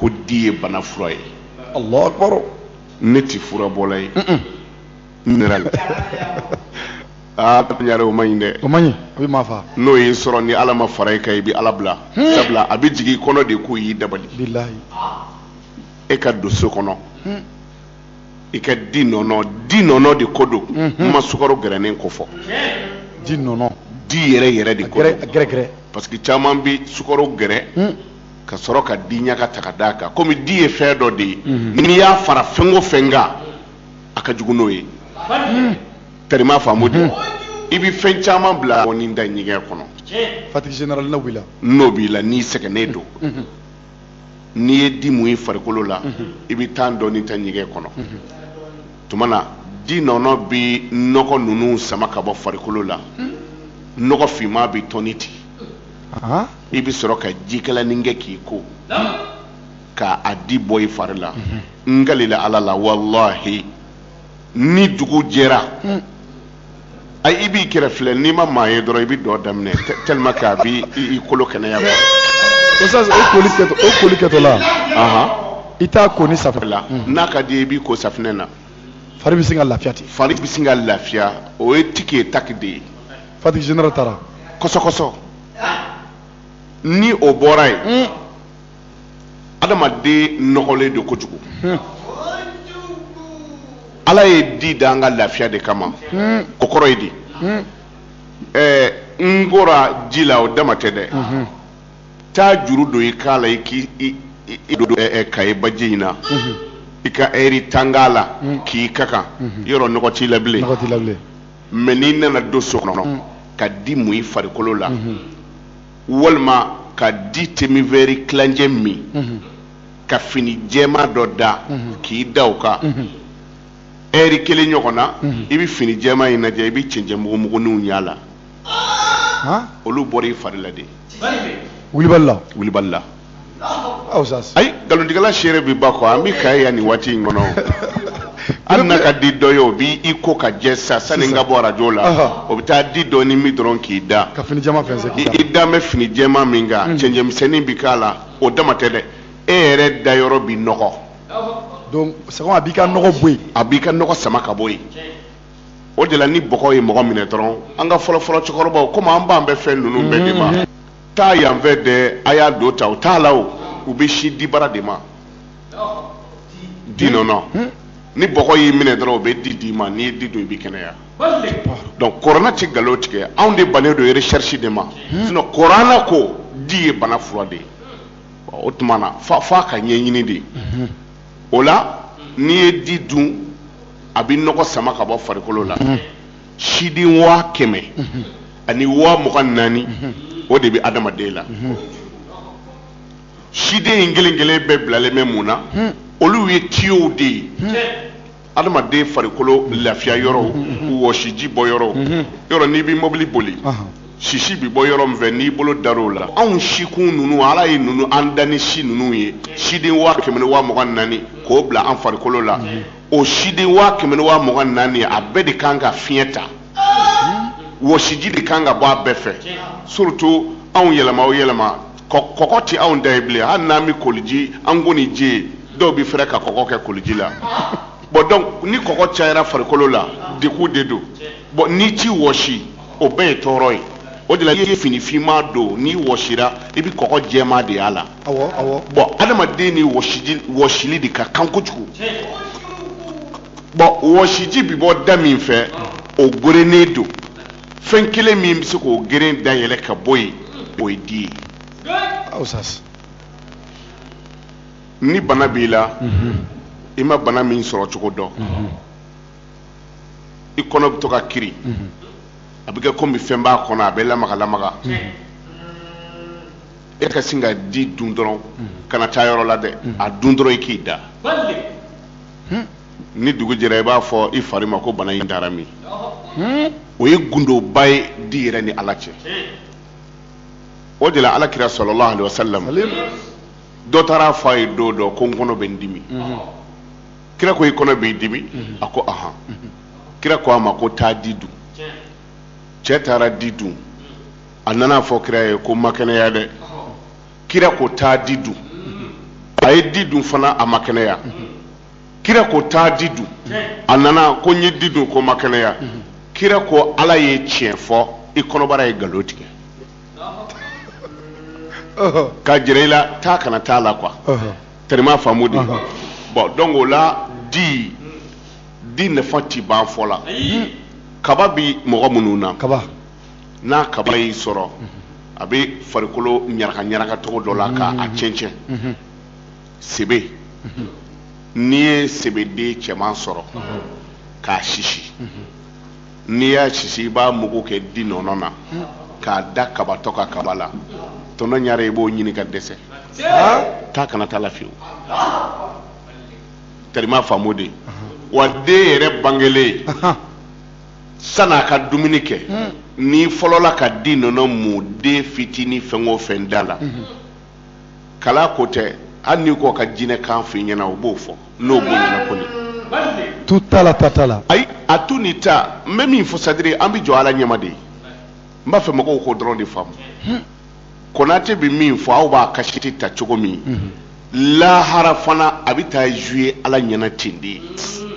ko di ye bana fura ye alahu akbar ne tɛ furabɔla ye n nira la aa ɲare o man ɲi dɛ o man ɲi a bɛ maa faa n'o y'i sɔrɔ ni ala ma fara i kan i bɛ ala bila sabula a bɛ jigin i kɔnɔ de ko y'i dabali bilahi e ka don so kɔnɔ i ka di nɔnɔ di nɔnɔ de ko don n ma sukaro gɛrɛnen ko fɔ di nɔnɔ di yɛrɛ yɛrɛ de ko gɛrɛgɛrɛ parce que caman bɛ sukaro gɛrɛ ka sɔrɔ ka di ɲaga ta ka d'a kan komi di ye fɛn dɔ de ye n'i y'a fara fɛn o fɛn kan a ka jugu n'o ye tɛrima faamu de i bɛ fɛn caman bila ni da ɲɛgɛn kɔnɔ fatigi n'o b'i la n'o b'i la n'i sɛgɛnnen don n'i ye di mun i farikolo la i bɛ temps dɔɔni ta ɲɛgɛn kɔnɔ tuma na di nɔnɔ bɛ nɔgɔ ninnu sama ka bɔ farikolo la nɔgɔ finman bɛ tɔni ten i bɛ sɔrɔ ka jikalanin kɛ k'i ko ka a di bɔ i fari la n kalila ala la walahi ni dugu jɛra a i b'i kɛrɛ filɛ n'i ma maa ye dɔrɔn i bɛ dɔn daminɛ tellement que a b'i i kolo kɛnɛya quoi. Oustaz o koli kɛtɔ o koli kɛtɔla. Ahan. I t'a ko ni safinɛ la. N'a ka d'i ye i b'i ko safinɛ na. Fari bɛ sin ka lafiya ten. Fari bɛ sin ka lafiya o ye tiki ye taki de ye. Fatigue générale taara. Kɔsɔkɔsɔ ni o bɔra yen. adamaden nɔgɔlen don kojugu ala ye di da an ka lafiya de kama o kɔrɔ ye di ɛɛ n kora ji la o dama tɛ dɛ taa juru don i k'a la i k'i kayi baji in na i ka ɛri tan k'a la k'i ka kan yɔrɔ nɔgɔ t'i la bilen mais n'i nana don so kɔnɔ ka di mun i farikolo la walima ka di demi-verre tilancɛ min mhm. ka fini jɛma dɔ da mhm. k'i da o kan mhm. ɛri kelen ɲɔgɔn na i bɛ fini jɛma in lajɛ i bɛ cɛncɛn mugumuguninw y'a la olu bɔra i fari la de wulibali la wulibali la ayi nkalontigɛla seere bɛ ba kɔ an bɛ kayi yan nin waati in kɔnɔ hali n'a ka di dɔ ye o b'i i ko ka jɛ sa sani n ka bɔ arajo la o bɛ taa di dɔɔni min dɔrɔn k'i da ka fini jɛman fɛnsɛn k'i da i dalen bɛ fini jɛman min kan cɛncɛnmisɛnnin bɛ k'a la o dama tɛ dɛ e yɛrɛ dayɔrɔ bɛ nɔgɔ donc c'est que a b'i ka nɔgɔ bɔ yen a b'i ka nɔgɔ sama ka bɔ yen o de la ni bɔgɔ ye mɔgɔ minɛ dɔrɔn an ka fɔlɔfɔlɔ cɛkɔrɔbaw komi an bannen bɛ fɛn ninnu bɛɛ de ma taa yanfɛ dɛ a y'a don ta u t'a la o u bɛ sin dibara de ma di nɔnɔ ni bɔgɔ y'i minɛ dɔrɔn u bɛ di d'i ma n'i ye di dun i bɛ kɛnɛya donc kuranɛ tɛ nkalon tigɛ anw de bannen don recherche de ma sinon kuranɛ ko di ye bana fura de ye o tuma na f'an k'a ɲɛɲini dɛ o la n'i ye di dun a bɛ nɔgɔ sama ka bɔ farikolo la siden waa kɛmɛ ani waa mugan naani o de bɛ adamaden la siden in kelen kelen bɛɛ bilalen bɛ mun na olu ye tiyow de ye adamaden farikolo lafiya yɔrɔw wɔsiji bɔ yɔrɔw yɔrɔ n'i bɛ mobili boli sisi bɛ bɔ yɔrɔ min fɛ n'i bolo dar'o la anw sikun ninnu ala ye ninnu an da ni si ninnu ye siden waa kɛmɛ ni waa mugan naani k'o bila an farikolo la o siden waa kɛmɛ ni waa mugan naani a bɛɛ de kan ka fiɲɛ ta wɔsiji de kan ka bɔ a bɛɛ fɛ surtout anw yɛlɛma o yɛlɛma kɔgɔ tɛ anw da ye bilen hali n'an bɛ koliji an ko ni ji dɔw bɛ fɛrɛ ka kɔgɔ kɛ koliji la bon donc ni kɔgɔ cayara farikolo la degun de don bon n'i t'i wɔsi o bɛɛ ye tɔɔrɔ ye o de la i ye fini finman don n'i wɔsira i bɛ kɔgɔ jɛman de y'a la bon adamaden ni wɔsili de ka kan kojugu bon wɔsiji bɛ bɔ da min fɛ o gerennen don fɛn kelen min bɛ se k'o geren dayɛlɛ ka bɔ yen o ye di ye ni bana b'i la i ma bana min sɔrɔ cogo dɔn i kɔnɔ bɛ to ka kiri a bɛ kɛ komi fɛn b'a kɔnɔ a bɛ lamaga lamaga e ka sin ka di dun dɔrɔn kana taa yɔrɔ la dɛ a dun dɔrɔn i k'i da ni dugu jɛra i b'a fɔ i fari ma ko bana in taara min o ye gundoba ye di yɛrɛ ni ala cɛ o de la ala kira sallallahu alayhi wa sallam dɔ taara a fɔ a ye don dɔ ko n kɔnɔ bɛ n dimi kira ko i kɔnɔ b'i dimi mhm. a ko ahan mhm. kira ko a ma ko taa di dun cɛ taara di dun a nana a fɔ kira ye ko n ma kɛnɛya dɛ kira ko taa di dun mhm. a ye di dun fana a ma kɛnɛya kira ko taa di dun a nana ko n ye di dun ko n ma kɛnɛya kira ko ala ye tiɲɛ fɔ i kɔnɔbara ye nkalon tigɛ k'a jira i la taa kana taa la quoi tɛrɛma faamu de bon donc o la di di nafa ti ban fɔ la kaba bi mɔgɔ minnu na n'a kaba y'i sɔrɔ a bɛ farikolo ɲaraka ɲaraka cogo dɔ la ka a cɛncɛn sebe n'i ye sebeden cɛman sɔrɔ k'a sisi n'i y'a sisi i b'a mugu kɛ di nɔnɔ na k'a da kabatɔ ka kaba la tɔntɔn ɲare i b'o ɲini ka dɛsɛ taa kana taa la fiyewu tari i m'a faamu de wa den yɛrɛ bangelen san'a ka dumuni kɛ n'i fɔlɔla ka di nɔnɔ mun den fitinin fɛn o fɛn da la kalan ko tɛ hali n'i ko ka jinɛkan f'i ɲɛna o b'o fɔ n'o b'o ɲɛna ko nin tun t'a la ta t'a la ayi a tu ni ta n bɛ min fɔ c'est-à-dire an bɛ jɔ ala ɲɛma de ye n b'a fɛ mɔgɔw k'o dɔrɔn de faamu konate bɛ min fɔ aw b'a kasɛti ta cogo min lahara fana a bɛ taa jouer ala ɲɛna ten de ye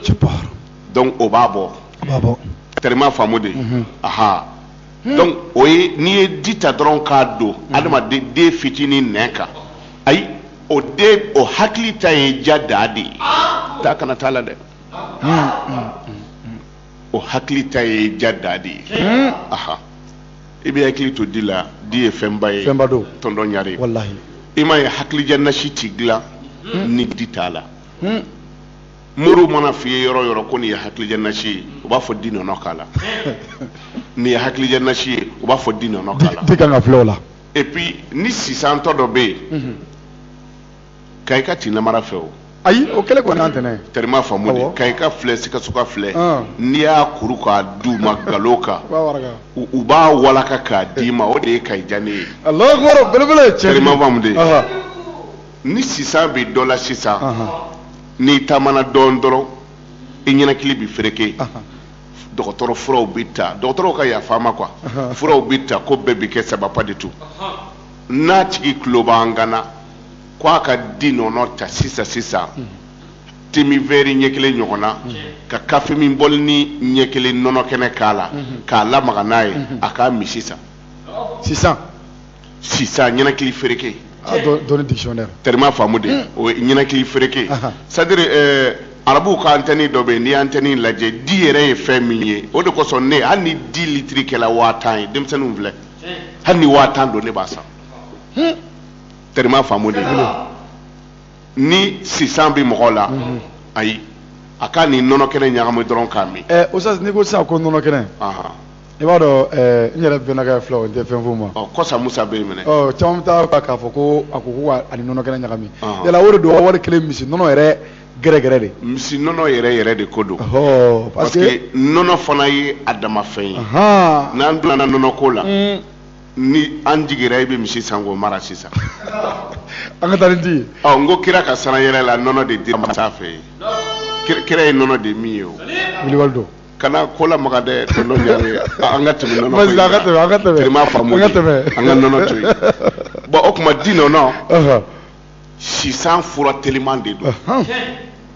cɛparo donc o b'a bɔ a b'a bɔ tari i m'a faamu de aha Hmm. donc o ye n'i ye di ta dɔrɔn k'a don hmm. adamaden den fitinin nɛn kan ayi o den o hakili ta ye ja daa de ye taa kana t'a la dɛ hmm, o hakili ta ye ja daa de ye aha i bɛ hakili to di la di ye fɛnba ye fɛnba don tɔntɔn ɲare walahi i m'a ye hakilidiya nasi ti dilan ni di t'a la moriw man'a f'i ye yɔrɔ o yɔrɔ ko nin ye hakilidiya nasi ye u b'a fɔ di nɔnɔ k'a la nin ye hakilidiya nasi ye u b'a fɔ di nɔnɔ k'a la ti kan ka fili o la et puis ni sisantɔ dɔ bɛ yen mhm. kayika ti namara fɛ o ayi o kelen kɔni an tɛnɛ tari i m'a faamu de kayika filɛ sikasoka filɛ ah. n'i y'a kuru k'a d'u ma nkalon kan u b'a walaka k'a d'i ma o de ye kayi diya ne ye tari i m'a faamu de ni sisan bɛ dɔ la sisan n'i taamana dɔɔnin dɔrɔn i ninakili bɛ fereke dɔgɔtɔrɔ furaw bɛ ta dɔgɔtɔrɔw ka yafa n ma quoi furaw bɛ ta ko bɛɛ bɛ kɛ sababa de tun n'a tigi tulo b'an kan na ko a ka di nɔnɔ ta sisan sisan te min vɛri ɲɛ kelen ɲɔgɔn na ka kafe min bɔlinin ɲɛ kelen nɔnɔ kɛnɛ k'a la k'a lamaga n'a ye a k'a min sisan sisan sisan ninakili fereke ah, dɔnni dictionnaire tari i m'a faamu de hmm. o ye ninakili fereke c'est-à-dire eh, arabuw ka antɛni dɔ bɛ yen n'i ye antɛni lajɛ di yɛrɛ ye fɛn min ye o de kosɔn ne hali ni di litiri kɛla waa tan ye denmisɛnninw filɛ hali ni waa tan don ne b'a san hmm. tari i m'a faamu de ni sisan bɛ mɔgɔ la hmm. ayi a k'a ni nɔnɔ kɛnɛ ɲagami dɔrɔn k'a min. ɛ eh, o sisan n'i ko sisan ko nɔnɔ kɛnɛ. i b'a dɔn eh, n yɛrɛ bɛnakɛ filɛ o tɛ fɛn f'u ma ɔ kɔsa musa bɛ yen minɛ ɔ caman bɛ taa k'a fɔ ko a ko k'a ni nɔnɔ kɛnɛ ɲagami yala o de don wari kelen misi nɔnɔ yɛrɛ gɛrɛgɛrɛ de misi nɔnɔ yɛrɛ yɛrɛ de ko don parce que nɔnɔ fana ye a dama fɛn ye n'an donna nɔnɔ ko la hmm. ni an jigira i bɛ misi san k'o mara sisan an ka taa ni di ye n ko kira ka sanna yɛlɛ la nɔnɔ de dir'a ma sanfɛ yen kira ye nɔnɔ de min yen o wulibali don kana ko la maga dɛ tonton Ɲare an ka tɛmɛ nɔnɔ Vas-y, an ka tɛmɛ, an ka tɛmɛ. tari i m'a faamu An ka tɛmɛ. an ka nɔnɔ to yen bon o tuma di nɔnɔ Ɔhɔn. sisan fura teliman de don Ɔhɔn.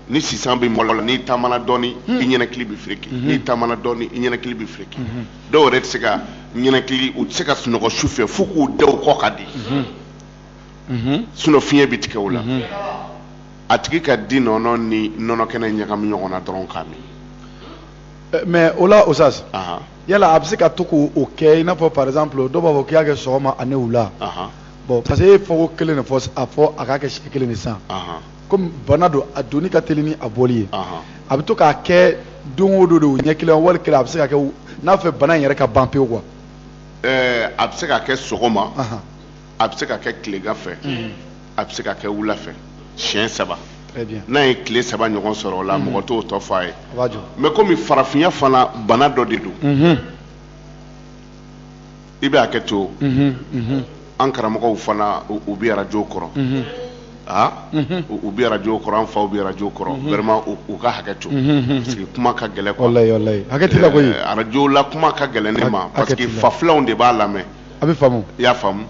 ni sisan bɛ mɔgɔ la n'i taamana dɔɔni i ninakili bɛ firiki n'i taamana dɔɔni i ninakili bɛ firiki dɔw yɛrɛ tɛ se ka ninakili u tɛ se ka sunɔgɔ su fɛ fo k'u da u kɔ kan de sinon fiɲɛ bɛ tigɛ o la a tigi ka di nɔnɔ ni nɔnɔ kɛnɛ ɲagami ɲɔgɔn na dɔrɔn k'a min eh, mais o la Oustaz yala a bɛ se ka to k'o kɛ i n'a fɔ par exemple dɔw b'a fɔ k'i y'a kɛ sɔgɔma ani wula bon parce que e ye fɔko kelen de fɔ a fɔ a k'a kɛ siɲɛ kelen de san komi bana don a donni ka teli ni a bɔli ye a bɛ to k'a kɛ don o don de o ɲɛ kelen wali kelen a bɛ se ka kɛ n'a fɛ bana in yɛrɛ ka ban pewu quoi eh, a bɛ se ka kɛ sɔgɔma a bɛ se ka kɛ tilegan fɛ mhm. a bɛ se ka kɛ wula fɛ siɲɛ saba n'a ye tile saba ɲɔgɔn sɔrɔ o la mhm. mɔgɔ t'o tɔ fɔ a ye mais kɔmi farafinya fana bana dɔ de don mhm. i bɛ hakɛ to an karamɔgɔw fana u bɛ arajo kɔrɔ aa u bɛ arajo kɔrɔ an faw bɛ arajo kɔrɔ vraiment u ka hakɛ to parce que kuma ka gɛlɛn quoi arajo la kuma ka gɛlɛn ne ma parce que fafilanw de b'a lamɛn a bɛ faamu i y'a faamu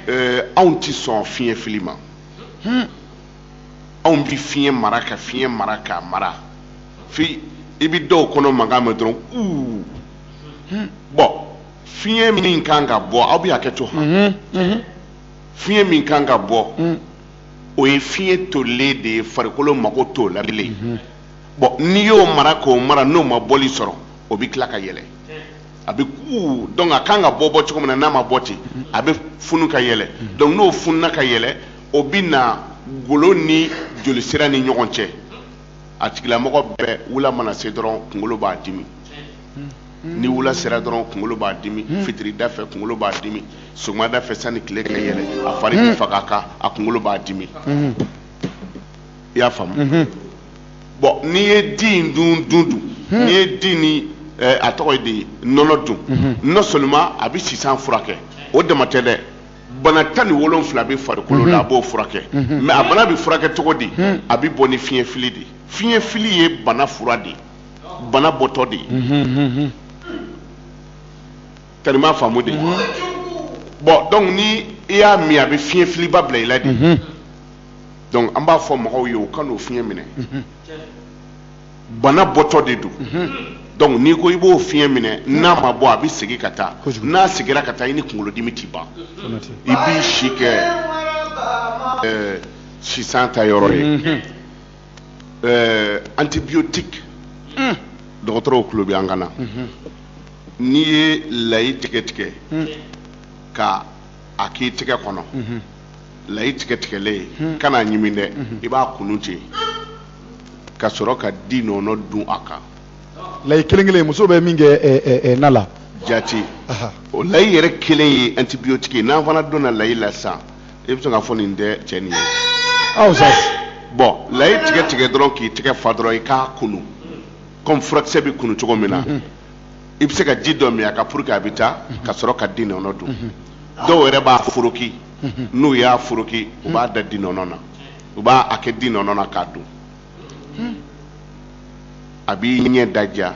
ɛɛ anw tɛ sɔn fiɲɛ fili ma hmm. anw bɛ fiɲɛ mara ka fiɲɛ mara k'a mara fi i bɛ dɔw kɔnɔ mankan mɛn dɔrɔn uu hmm. bon fiɲɛ min kan ka bɔ aw bɛ hakɛ to han hmm, fiɲɛ min kan ka bɔ o ye fiɲɛ tolilen de ye farikolo mago t'o la bilen bon n'i y'o mara k'o mara n'o ma bɔli sɔrɔ o bɛ tila ka yɛlɛ a bɛ kuu donc a kan ka bɔ bɔ cogo min na n'a ma bɔ ten a bɛ funu ka yɛlɛ donc n'o fununa ka yɛlɛ o bɛ na golo ni jolisira ni ɲɔgɔn cɛ a tigilamɔgɔ bɛɛ wula mana se dɔrɔn kunkolo b'a dimi ni wula sera dɔrɔn kunkolo b'a dimi fitirida fɛ kunkolo b'a dimi sɔgɔmada fɛ sani tile ka yɛlɛ a fari bɛ faga a kan a kunkolo b'a dimi i y'a faamu bon n'i ye di in dun dun dun hmm. n'i ye di ni eh, a tɔgɔ ye di nɔnɔ dun hmm. non seulement a bɛ sisan furakɛ o dama tɛ dɛ bana tan ni wolonfila bɛ farikolo la a b'o furakɛ mais a bana bɛ furakɛ cogo di a bɛ bɔ ni fiɲɛ fili de fiɲɛ fili ye bana fura de ye bana bɔtɔ de ye tari i m'a faamu de mhm. bon donc ni i y'a min a bɛ fiɲɛ filiba bila i la de mhm. donc an b'a fɔ mɔgɔw ye u kan'o fiɲɛ minɛ mhm. bana bɔtɔ de don donc n'i ko i b'o fiɲɛ minɛ n'a ma bɔ a bɛ segin ka taa n'a seginna ka taa i ni kunkolodimi tɛ ban i b'i si kɛ ɛɛ sisan ta yɔrɔ ye. eh, antibiotique mm. dɔgɔtɔrɔw tulo bɛ an kan na mm -hmm. n'i ye layi tigɛ tigɛ mm. ka a k'i tɛgɛ kɔnɔ mm -hmm. layi tigɛ tigɛlen mm. kan'a ɲimi dɛ mm -hmm. i b'a kunu ten ka sɔrɔ ka di nɔnɔ dun a kan layi kelen kelen muso bɛ min kɛ ɛ eh, ɛ eh, eh, na la jati o layi yɛrɛ kelen ye antibiotique ye n'an fana donna layi la sisan i bɛ se ka fɔ nin tɛ cɛ nin ye aw sa bɔn layi tigɛ tigɛ dɔrɔn k'i tɛgɛ fa dɔrɔn i k'a kunu kɔmi furakisɛ bɛ kunu cogo min na mhm. i bɛ se ka ji dɔ min a kan pour que a bɛ taa mhm. ka sɔrɔ ka di nɔnɔ dun mhm. dɔw yɛrɛ b'a foroki n'u y'a foroki u b'a da di nɔnɔ na u b'a a kɛ di nɔnɔ na k'a dun hmm. a b'i ɲɛ daja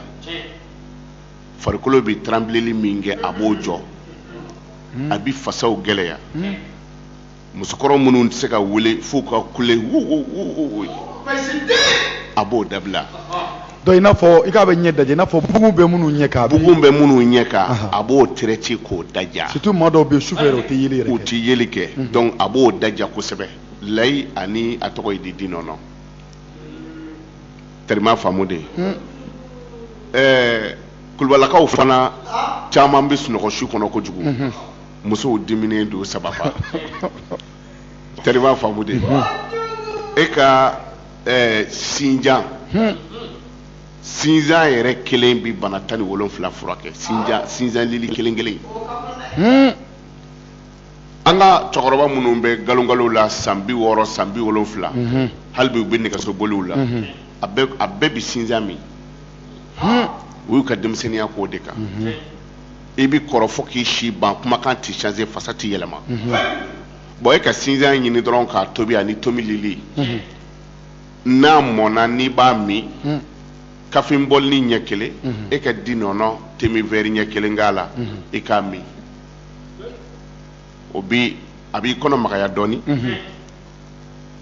farikolo bɛ tranbileli min kɛ a b'o jɔ hmm. a bɛ fasaw gɛlɛya hmm. musokɔrɔ minnu tɛ se ka wuli f'u ka kule wuwuwuwu a b'o dabila donc i n'a fɔ i k'a bɛ ɲɛ daja i n'a fɔ bugun bɛ minnu ɲɛ kan bugun bɛ minnu ɲɛ kan a b'o traité k'o daja surtout maa dɔw bɛ yen sufɛ yɛrɛ u tɛ yeli yɛrɛ kɛ u tɛ yeli kɛ donc a b'o daja kosɛbɛ layi ani a tɔgɔ ye di di nɔnɔ terima faamu de ye ɛɛ kulubalakaw fana caman bɛ sunɔgɔ su kɔnɔ kojugu musow diminen don sababu terima faamu de ye e ka ɛɛ sinjan sinjan yɛrɛ kelen bɛ bana tan ni wolonfila furakɛ sinjan sinjan lili kelen kelen an ka cɛkɔrɔba minnu bɛ galongalon la san bi wɔɔrɔ san bi wolonwula mhm. hali bi u bɛ nɛgɛsoboliw la mhm. a bɛɛ bɛ sinjan min u y'u ka denmisɛnniya k'o de kan mhm. i bɛ kɔrɔ fo k'i si ban kumakan tɛ change fasa tɛ yɛlɛma bɔn e ka sinjan ɲini dɔrɔn k'a tobi ani tomi lili n'a mɔnna n'i b'a min kafe bɔlini ɲɛ kelen e ka di nɔnɔ te min vɛri ɲɛ kelen k'a la i k'a min o bɛ a b'i kɔnɔ magaya dɔɔnin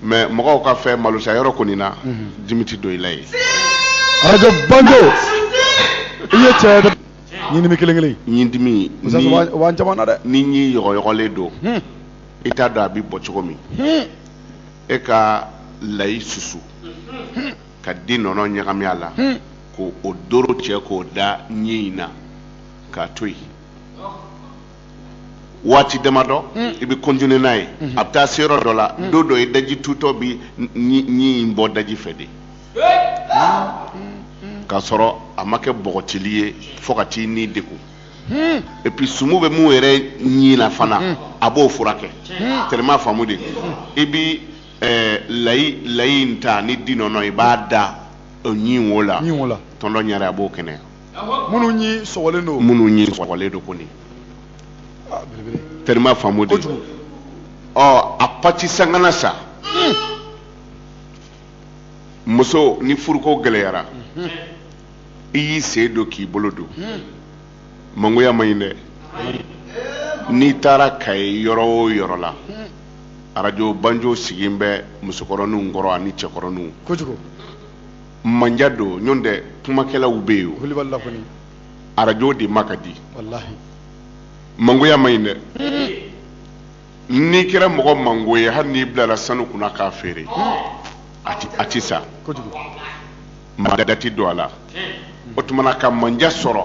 mɛ mɔgɔw ka fɛ malosa yɔrɔ kɔni na dimi tɛ don i la ye arajo banjo i ye cɛ dɛ ɲindimi kelen kelen ɲin dimi musa ni- wa- wa caman na dɛ ni ɲin yɔgɔyɔgɔlen don Hmm. i t'a dɔn a bɛ bɔ cogo min Hmm. e ka layi susu ka di nɔnɔ ɲagami a la Hmm. ko o doro cɛ k'o da ɲin in na k'a to yen waati damadɔ hmm. i bɛ continuer n'a ye hmm. a bɛ taa se yɔrɔ dɔ la hmm. don dɔ i daji tutɔ bi ɲi in bɔ daji fɛ de k'a sɔrɔ a ma kɛ bɔgɔtili ye fo ka t'i ni degun et puis sumu bɛ mun yɛrɛ ɲi na fana a b'o furakɛ terima faamu de i bi eh, layi layi in ta ni di nɔnɔ i b'a da ɲi wo la tonton ɲare a b'o kɛnɛya minnu ɲi sɔgɔlen don minnu ɲi sɔgɔlen don kɔni ah, terima faamu de ɔ oh, a pati sakana sa hmm. muso ni furuko gɛlɛyara hmm. i y'i sen don k'i bolo don hmm. mangoya man ɲi dɛ n'i taara kayi yɔrɔ o yɔrɔ la arajo banjo sigilen bɛ musokɔrɔninw kɔrɔ ani cɛkɔrɔninw kojugu mandiya don ɲɔntɛ kumakɛlaw bɛ yen o arajo de ma ka di mangoya man ɲi dɛ n'i kɛra mɔgɔ mango ye hali n'i bilara sanu kunna k'a feere a tɛ san maa da ti don a la o tuma na ka mandiya sɔrɔ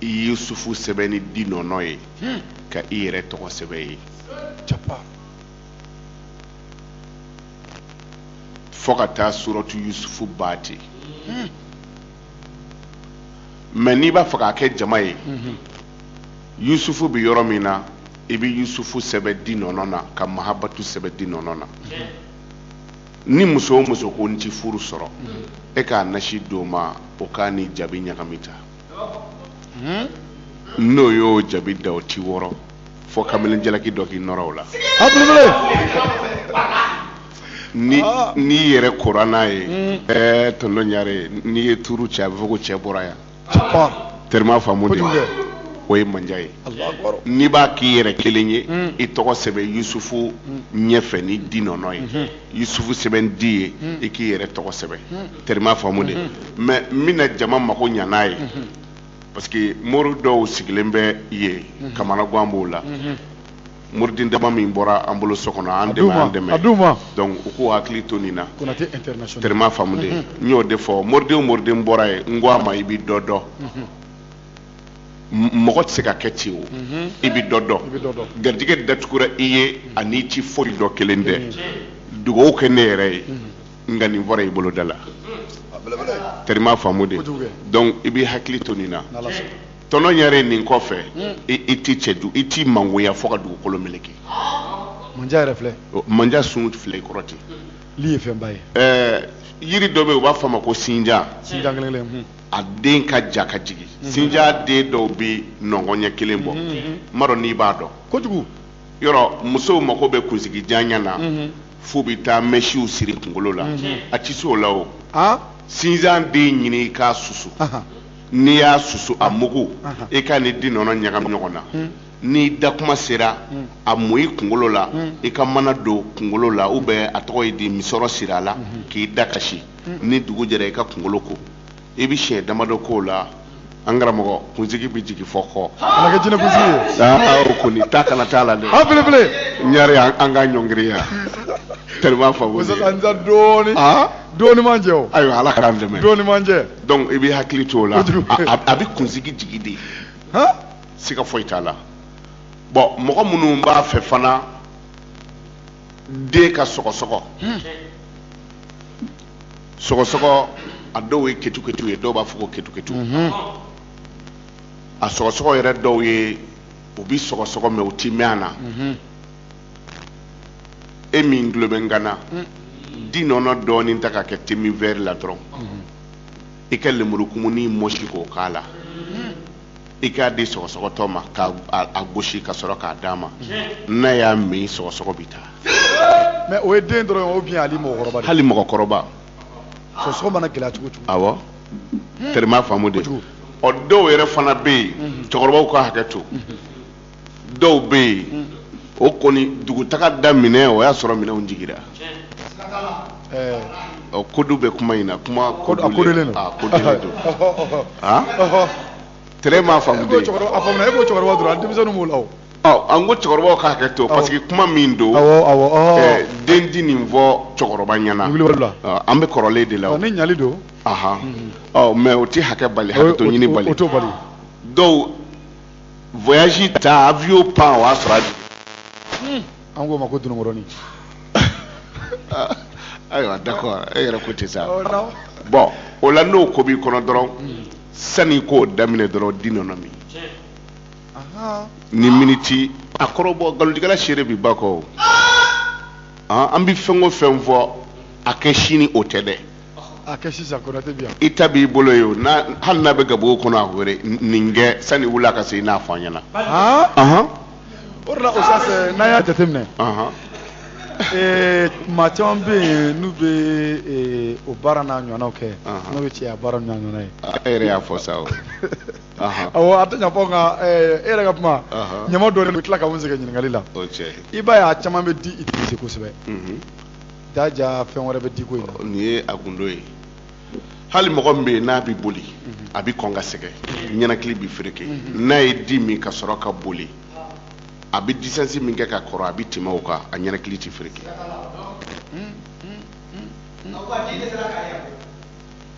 i yusufu sɛbɛn ni di nɔnɔ ye hmm. ka i yɛrɛ tɔgɔ sɛbɛn ye fo ka taa suratu yusufu ban ten hmm. mɛ n'i b'a fɛ k'a kɛ jama ye hmm. yusufu bɛ yɔrɔ min na i bɛ yusufu sɛbɛn di nɔnɔ na ka mahabatu sɛbɛn di nɔnɔ na ni muso o muso ko n ti furu sɔrɔ i k'a nasi d'o ma o k'a ni jabi ɲagami ta hmm? n'o y'o jabi da o ti wɔrɔ fo kamalen jalaki dɔ k'i nɔrɔ o la ni ah. n'i yɛrɛ kora n'a ye hmm. ɛɛ tonton ɲare n'i ye tuuru cɛ a bɛ fɔ ko cɛ bɔra yan terima faamu de o ye mandiya ye n'i b'a k'i yɛrɛ kelen ye hmm. i tɔgɔ sɛbɛn yusufu ɲɛfɛ ni di nɔnɔ ye yusufu sɛbɛn di ye i k'i yɛrɛ tɔgɔ sɛbɛn terima faamu de mais n bɛna jama mako ɲa n'a ye parce que mori dɔw sigilen bɛ yen kamanagan b'o la moriden dama min bɔra an bolo so kɔnɔ an dɛmɛ an dɛmɛ donc u k'u hakili to nin na terima faamu de n y'o de fɔ moriden moriden bɔra ye n ko a ma i bɛ dɔ dɔn mɔgɔ tɛ se ka kɛ ci o i bɛ dɔ dɔn garijɛgɛ datugura i ye ani ci foyi dɔ kelen tɛ dugawu kɛ ne yɛrɛ ye nka nin fɔra i bolo da la tere m'a faamu de donc i b'i hakili to nin na tɔnɔ ɲare nin kɔfɛ hmm. i t'i cɛ i t'i mangoya fo ka dugukolo meleke mandiya yɛrɛ filɛ mandiya sun filɛ i kɔrɔ ten li ye fɛnba ye ɛɛ yiri dɔ bɛ yen u b'a fɔ a ma ko sinjan sinjan kelen kelen hmm. a den ka jan ka jigin hmm. sinjan den dɔw bɛ nɔngɔn ɲɛ kelen bɔ n m'a dɔn n'i b'a dɔn kojugu yɔrɔ musow mako bɛ kunsigi janya na f'u bɛ taa mɛsiw siri kunkolo la a tɛ se o la o sinjan den ɲini i k'a susu n'i y'a susu a mugu i k'a ni di nɔnɔ ɲagami ɲɔgɔn na n'i da kuma sera a mu i kunkolo la i ka mana don kunkolo la ou bien a tɔgɔ ye di misɔrɔ siri a la k'i da ka si ni dugu jɛra i ka kunkolo ko i bɛ siɲɛ damadɔ k'o la an karamɔgɔ kunsigi bɛ jigin fɔ k'o kana kɛ jinɛ kunsigi ye aa o kɔni ta kana t'a la dɛ an belebele ɲare an an ka ɲɔngiriya tere m'a faamu li musaka n ta dɔɔni aa dɔɔni man jɛ o ayiwa ala k'an dɛmɛ dɔɔni man jɛ donc i bɛ hakili to o la kojugu. a a- a bɛ kunsigi jigin de han siga foyi t'a la bon mɔgɔ minnu b'a fɛ fana den ka sɔgɔsɔgɔ sɔgɔsɔgɔ a dɔw ye ketuketu ye dɔw b'a fɔ ko ketuketu mhm. a sɔgɔsɔgɔ yɛrɛ dɔw ye u bi sɔgɔsɔgɔ mais u ti mɛɛn a na mhm. e min tulo bɛ n kan na mm. di nɔnɔ dɔɔnin ta k'a kɛ demi vɛri la dɔrɔn mhm. i ka lemuru kumuni mɔsi k'o k'a la i k'a di sɔgɔsɔgɔtɔ ma k'a gosi ka sɔrɔ k'a d'a ma n'a y'a min sɔgɔsɔgɔ bɛ taa mais o ye den dɔrɔn ou bien hali mɔgɔkɔrɔba hali mɔgɔkɔrɔba sɔgɔsɔgɔ mana gɛlɛya cogo cogo awɔ tere m'a faamu de ɔ dɔw yɛrɛ fana bɛ yen cɛkɔrɔbaw ka hakɛ to dɔw bɛ yen hmm. o kɔni dugutaga daminɛ o y'a sɔrɔ minɛnw jigira ɔ kodu bɛ kuma in na kuma kodelen ah, don ah, ah? tere m'a faamu de e ko cɛkɔrɔba dɔrɔn denmisɛnninw b'o la o ɔ an ko cɛkɔrɔbaw ka hakɛ to parce que kuma min don den ti nin fɔ cɛkɔrɔba ɲɛna an bɛ kɔrɔlen de la o ni ɲali don ɔ mais o tɛ hakɛ bali hakɛ to ɲini bali dɔw voyage ta avion pan o y'a sɔrɔ a jigin. an k'o ma ko dununkɔrɔni. ayiwa d'accord e yɛrɛ ko ten sa. bon o la n'o ko b'i kɔnɔ dɔrɔn sani i k'o daminɛ dɔrɔn di nɔnɔ min. ni miniti a kɔrɔbɔ nkalontigɛla seere bi ba kɔ an bɛ fɛn o fɛn fɔ a kɛ sini o tɛ dɛ. a kɛ sisan konate bi yan i ta b'i bolo ye o n'a- hali n'a bɛ gabugu kɔnɔ a wele n- nin kɛ sani wula ka se i n'a fɔ an ɲɛna han Ahan, o de la osas n'an y'a jateminɛ ahan. ee, maa caman bɛ yen n'u bɛ ee, o baara n'a ɲɔgɔnnaw kɛ Ahan. n'o ye cɛya baara n'a ɲɔgɔnna ye A- e yɛrɛ y'a fɔ sa o Ahan, awɔ a tɛ ɲa fɔ nka ee, e yɛrɛ ka kuma Ahan. ɲama dɔ de bɛ tila ka mun sɛgɛn ɲininkali la o cɛ i b'a ye a caman bɛ di utiliser kosɛbɛ Mhm. Jaja fɛn wɛrɛ bɛ diko in na nin ye a gundo ye hali mɔgɔ min bɛ yen n'a bɛ boli a bɛ kɔn ka sɛgɛn ɲɛnakili bɛ fereke n'a ye di min ka sɔrɔ ka boli a bɛ distance min kɛ ka kɔrɔ a bɛ tɛmɛ o kan a ɲɛnakili tɛ fereke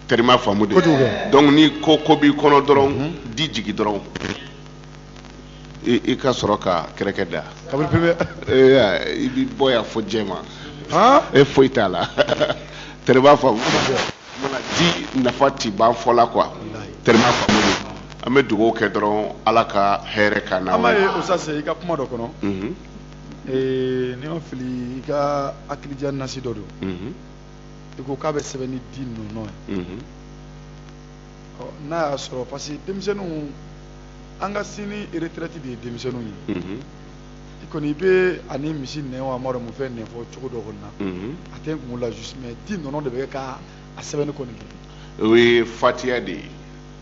terima faamu de kojugu donc ni ko ko b'i kɔnɔ dɔrɔn di jigi dɔrɔn i ka sɔrɔ ka kɛrɛkɛ da i bɛ bɔ yan fo jɛma e foyi t'a la tɛrɛ b'a faamu di nafa ti ban fɔ la quoi tɛrɛ b'a faamu an bɛ dugawu kɛ dɔrɔn ala ka hɛrɛ ka na an b'a ye osas i ka kuma dɔ kɔnɔ ni n ma fili i ka hakilija nasi dɔ don i ko k'a bɛ sɛbɛn ni di nɔnɔ ye n'a y'a sɔrɔ parce que denmisɛnninw an ka sini retraite de ye denmisɛnninw ye i kɔni i bɛ ani misi nɛn wa m'a dɔn mun fɛn nɛn fɔ cogo dɔ kɔni na a tɛ n kun la juste mais di nɔnɔ de bɛ kɛ ka a sɛbɛnni kɔni kɛ o ye fatiya de ye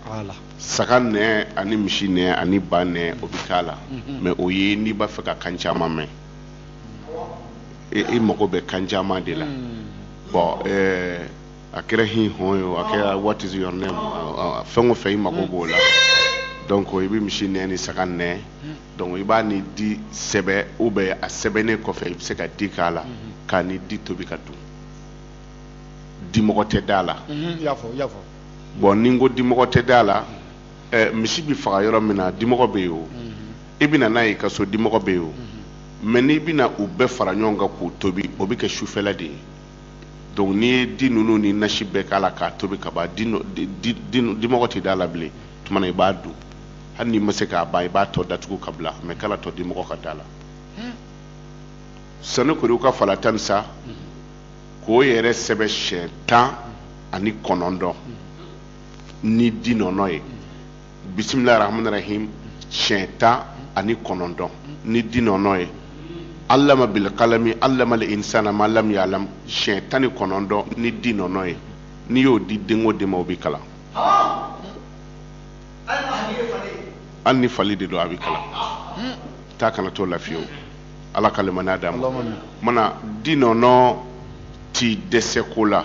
voilà saga nɛn ani misi nɛn ani ba nɛn o bɛ k'a la mais o ye n'i b'a fɛ ka kan caman mɛn i mago bɛ kan caman de la bon ɛɛ a kɛra hi hɔn ye a kɛra what is your name fɛn o fɛn i mago b'o la donc i bɛ misi nɛn ni saga nɛn donc i b'a ni di sɛbɛn ou bien a sɛbɛnnen kɔfɛ i bɛ se ka di k'a la k'a ni di tobi ka dun dimɔgɔ tɛ d'a la bon ni n ko dimɔgɔ tɛ d'a la misi bɛ faga yɔrɔ min na dimɔgɔ bɛ yen o i bɛ na n'a ye i ka so dimɔgɔ bɛ yen o mais n'i bɛna u bɛɛ fara ɲɔgɔn kan k'u tobi o bɛ kɛ sufɛla de ye donc n'i ye di ninnu ni nasi bɛɛ k'a la k'a tobi ka ban dimɔgɔ tɛ da la bilen tuma na i b'a dun hali n'i ma se k'a ban i b'a tɔ datugu ka bila mais kan'a to dimɔgɔ ka da la sanukuriwuka fala tanisa k'o yɛrɛ sɛbɛn siɲɛ tan ani kɔnɔntɔn ni di nɔnɔ ye bisimilahi rahmani rahim siɲɛ tan ani kɔnɔntɔn ni di nɔnɔ ye alama bilkalami alamal insana ma lam yalam siɲɛ tan ni kɔnɔntɔn ni di nɔnɔ ye n'i y'o di den o den ma o bɛ kalan hali ni fali de don a bɛ kalan ta kana t'o la fiyewu ala ka limaniya d'a ma mana di nɔnɔ ti dɛsɛ ko la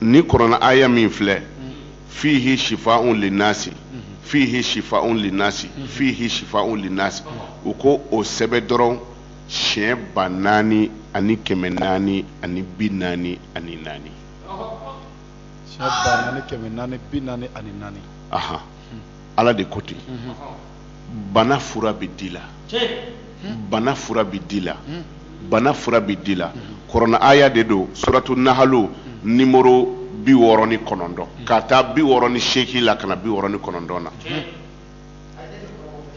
ni kɔrɔna aya min filɛ fihi shifa'un linnasi fihi shifa'un linnasi fihi shifa'un linnasi u ko o sɛbɛn dɔrɔn siɲɛ ba naani ani kɛmɛ naani ani bi naani ani naani aha ala de ko ten bana fura bɛ di la bana fura bɛ di la bana fura bɛ di la kɔrɔna aya de don suratu nahalu nimoro bi wɔɔrɔ ni kɔnɔntɔn ka taa bi wɔɔrɔ ni seeki la ka na bi wɔɔrɔ ni kɔnɔntɔn na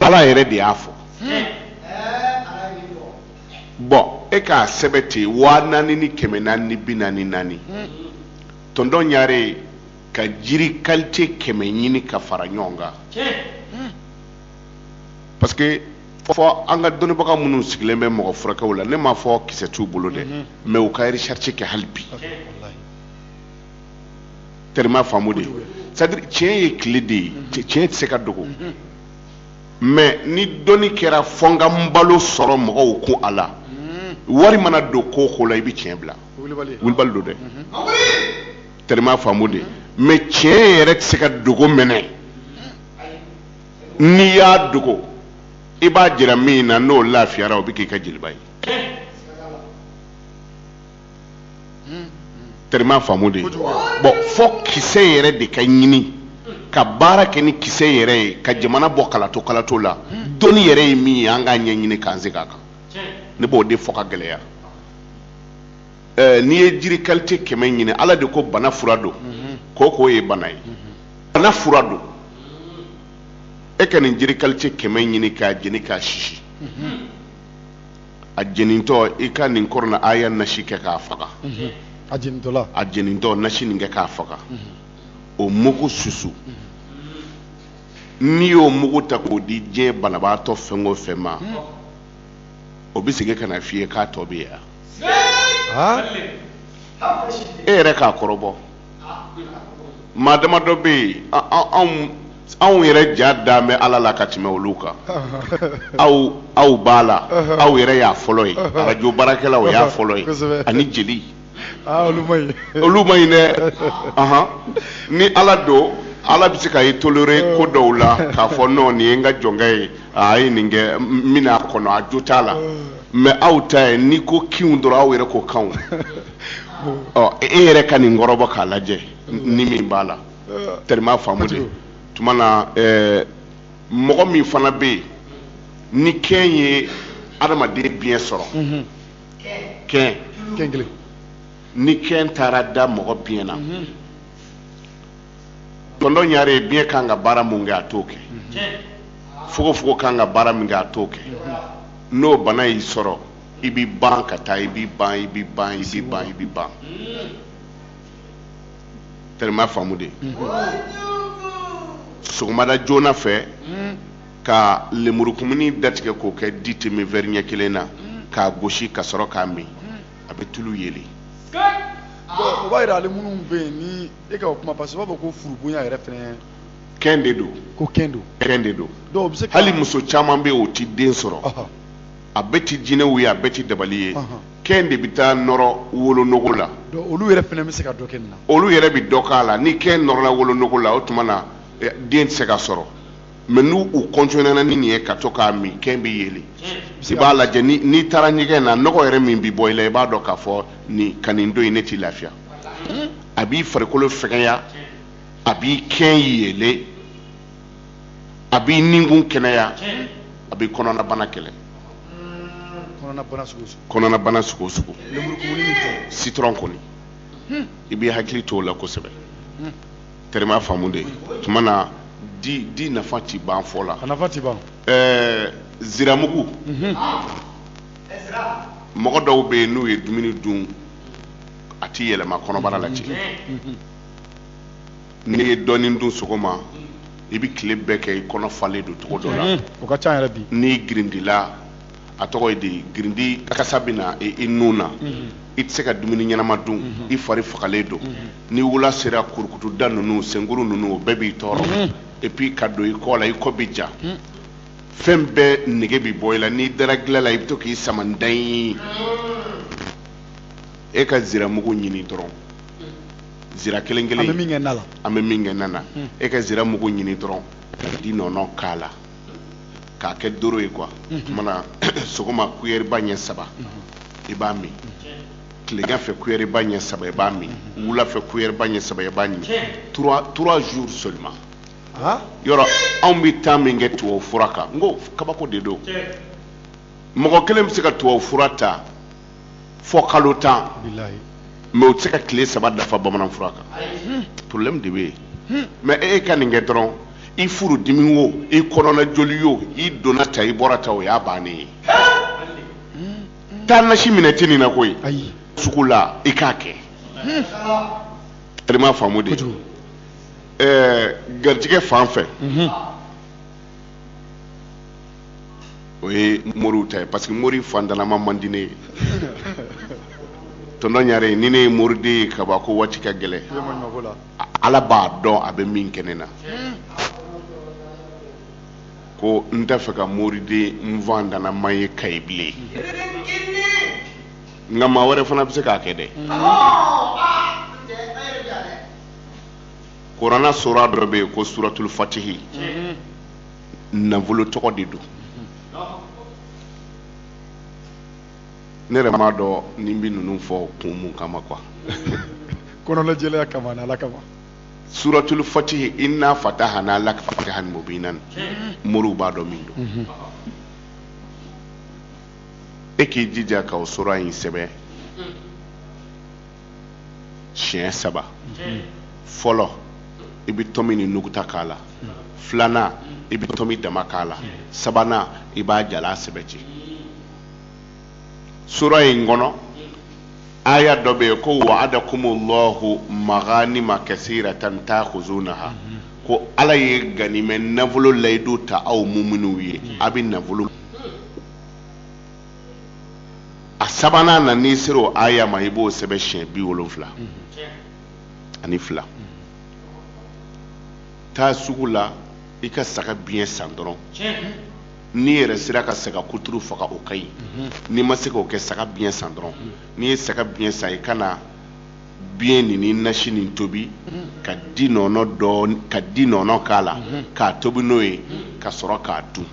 ala yɛrɛ de y'a fɔ bon e k'a sɛbɛn ten waa naani ni kɛmɛ naani ni bi naani naani tɔntɔn ɲare ka jiri kalite kɛmɛ ɲini ka fara ɲɔgɔn kan hmm. parce que fɔ an ka dɔnnibaga minnu sigilen bɛ mɔgɔ furakɛw la ne m'a fɔ kisɛ t'u bolo dɛ hmm. mais u ka recherche kɛ hali bi terima faamu de c'est à dire tiɲɛ ye tile de ye hmm. tiɲɛ tɛ se ka dogo mais ni dɔnni kɛra fɔ n ka n balo sɔrɔ mɔgɔw kun a la wari mana don ko o ko la i bɛ tiɲɛ bila wulibali don dɛ terima faamu de mais tiɲɛ yɛrɛ tɛ se ka dogo mɛnɛ n'i y'a dogo i b'a jira min na n'o lafiyara o bɛ k'i ka jeliba ye terima faamu de bon fo kisɛ yɛrɛ de ka ɲini ka baara kɛ ni kisɛ yɛrɛ ye ka jamana bɔ kalato kalato la dɔnni yɛrɛ ye min ye an k'a ɲɛɲini k'an se k'a kan ne b'o de fɔ ka gɛlɛya eh, n'i ye jiri kalite kɛmɛ ɲini ala de ko bana fura don ko o ko ye bana ye bana fura don e ka nin jiri kalite kɛmɛ ɲini k'a jeni k'a sisi a jenintɔ i ka nin kɔrɔna aya nasi kɛ k'a faga a jenintɔ nasi nin kɛ k'a faga o mugu susu n'i y'o mugu ta k'o di diɲɛ banabaatɔ fɛn o fɛn ma o bɛ segin ka na f'i ye k'a tɔ bɛ yan e yɛrɛ k'a kɔrɔbɔ maa dama dɔ bɛ yen anw anw yɛrɛ ja dan bɛ ala la ka tɛmɛ olu kan aw aw b'a la aw yɛrɛ y'a fɔlɔ ye arajo baarakɛlaw y'a fɔlɔ ye ani jeli Ah, olu ma ɲi dɛ ni ala don ala bɛ se ka ye toléré ko oh. dɔw la k'a fɔ non nin ye n ka jɔnkɛ ye a ye nin kɛ min a kɔnɔ a jo t'a la oh. mais aw ta ye n'i ko kinw dɔrɔn aw yɛrɛ ko kanw oh. e yɛrɛ ka nin kɔrɔbɔ k'a lajɛ ni min b'a la tɛrɛma faamu de tuma na eh, mɔgɔ min fana bɛ yen ni kɛn ye adamaden biɲɛ sɔrɔ mhm. ni kɛn taara da mɔgɔ biɲɛ na tɔn ɲare ye biɲɛ kan ka baara min kɛ a t'o kɛ fogofogo kan ka baara min kɛ a t'o kɛ n'o bana y'i sɔrɔ i bɛ ban ka taa i bɛ ban i bɛ ban i bɛ ban i bɛ ban tɛrɛma faamu de sɔgɔmada joona fɛ ka lemurukumuni datigɛ k'o kɛ di demi verre ɲɛ kelen na k'a gosi ka sɔrɔ k'a min a bɛ tulu yeli o b'a yira ale minnu bɛ yen ni e ka o kuma parce que u b'a fɔ ko furubonya yɛrɛ fɛnɛ kɛn de don ko kɛn don kɛn de don donc bɛ se hali muso caman bɛ yen o ti den sɔrɔ a bɛɛ ti jinɛw ye a bɛɛ ti dabali ye kɛn de bɛ taa nɔrɔ wolonogo la olu yɛrɛ fɛnɛ bɛ se ka dɔ kɛ nin na olu yɛrɛ bɛ dɔ k'a la ni kɛn nɔrɔla wolonogo la o tuma na eh, den tɛ se ka sɔrɔ mais n'u continuera ni nin ye ka to k'a min kɛn bɛ yeli i b'a lajɛ n'i taara ɲɛgɛn na nɔgɔ yɛrɛ min bɛ bɔ i la i b'a dɔn k'a fɔ nin ka nin don in ne t'i lafiya a b'i farikolo fɛgɛya a b'i kɛn yelen a b'i nikun kɛnɛya a bɛ kɔnɔnabana kɛlɛ kɔnɔnabana sugu sugu citron kɔni i b'i hakili to o la kosɛbɛ terima faamu de tuma na di di nafa ti ban fɔ la. a nafa ti ban. ɛɛ ziramugu. Mhm. mɔgɔ dɔw bɛ yen n'u ye dumuni dun a ti yɛlɛma kɔnɔbara la ci. Mhm. n'i ye dɔɔnin dun sɔgɔma i bɛ tile bɛɛ kɛ i kɔnɔ falen don cogo dɔ la. Mhm. o ka ca yɛrɛ bi. n'i girindila. a tɔgɔ ye di girindi kasa bɛ na i nun na i tɛ se ka dumuni ɲɛnama dun i fari fagalen don ni wula sera kurukutuda ninnu senkuru ninnu o bɛɛ b'i tɔɔrɔ et puis ka don i kɔ la i kɔ bɛ ja fɛn bɛɛ nege bɛ bɔ i la n'i dara dilan la i bɛ to k'i sama dan ye e ka ziramugu ɲini dɔrɔn zira kelen kelen an bɛ min kɛ na na e ka ziramugu ɲini dɔrɔn ka di nɔnɔ k'a la k'a kɛ doro ye quoi tuma na sɔgɔma kuyɛriba ɲɛ saba i b'a min tilegan fɛ kuyɛriba ɲɛ saba i b'a min wula fɛ kuyɛriba ɲɛ saba i b'a min trois jours seulement yɔrɔ anw bɛ temps min kɛ tubabu fura kan n ko kabako de don mɔgɔ kelen bɛ se ka tubabu fura ta fɔ kalo tan mais o tɛ se ka tile saba dafa bamanan fura kan problème de bɛ yen hmm. mais e, e ka nin kɛ dɔrɔn i furu dimi o i kɔnɔna joli o i donna ta i bɔra ta o y'a bannen ye hmm. taa nasi minɛ tɛ nin na koyi sugu la i k'a kɛ hmm. ale ma faamu de ɛɛ garijɛgɛ fan fɛ. o ye moriw ta ye parce que mori fantanama man di ne ye tɔntɔn ɲare ni ne ye moriden ye ka ban ko waati ka gɛlɛ ala b'a dɔn a bɛ min kɛ ne na ko n t'a fɛ ka moriden fantanama ye kayi bilen nka maa wɛrɛ fana bɛ se k'a kɛ dɛ kurana sura dɔ bɛ yen ko suratul fatihi nafolo tɔgɔ de don ne yɛrɛ m'a dɔn n bɛ ninnu fɔ kun mun kama quoi kɔnɔnajɛlenya kama ani ala kama suratul fatihi inna fatahana laka fatahan mubinan moriw b'a dɔn min don e k'i jija ka o sura in sɛbɛn siɲɛ saba fɔlɔ i bɛ tɔmi ni nuguta k'a la filanan i bɛ tɔmi dama k'a la sabanan i b'a jalan sɛbɛn ten sura in kɔnɔ aya dɔ bɛ yen ko wa'adakumullahu maganima kasiratan ta'khuzunaha ko ala ye ganimɛ nafolo layidu ta aw muminuw ye a bɛ nafolo a sabanan na n'i sera o aya ma i b'o sɛbɛn siɲɛ bi wolonfila ani fila taa sugu la i ka saga biɲɛ san dɔrɔn n'i yɛrɛ sera ka saga kuturu faga o ka ɲi n'i ma se k'o kɛ saga biɲɛ san dɔrɔn n'i ye saga biɲɛ san i ka na biɲɛ nin ni nasi nin tobi dɔɔni ka di nɔnɔ k'a la k'a tobi n'o ye ka sɔrɔ k'a dun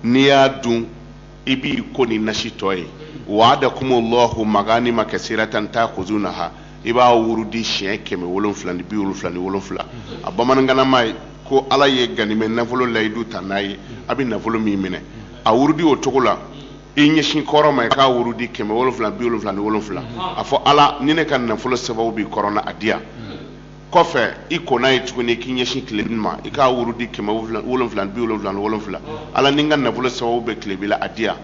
n'i y'a dun i b'i ko ni nasi tɔ ye wa'adakumullahu maganima kasiratan ta'khuzunaha i b'a wurudi siɲɛ kɛmɛ wolonfila ni bi wolonfila ni wolonfila a bamanankanama ye ko ala ye ganimɛ nafolo layidu ta an ye a bɛ nafolo min minɛ a wurudi o cogo la i ɲɛsin kɔrɔn ma i k'a wurudi kɛmɛ wolonfila bi wolonfila ni wolonfila a fɔ ala ni ne ka nafolo sababu bɛ kɔrɔn na a di yan kɔfɛ i kɔnna ye tuguni k'i ɲɛsin tilebin ma i k'a wurudi kɛmɛ wolonfila bi wolonfila ni wolonfila ala ni n ka nafolo sababu bɛ tilebin la a di yan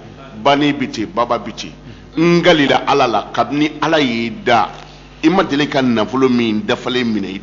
bani bi ten baba bi ten n kalila ala la kabini ala y'i da i ma deli ka nafolo min dafalen minɛ i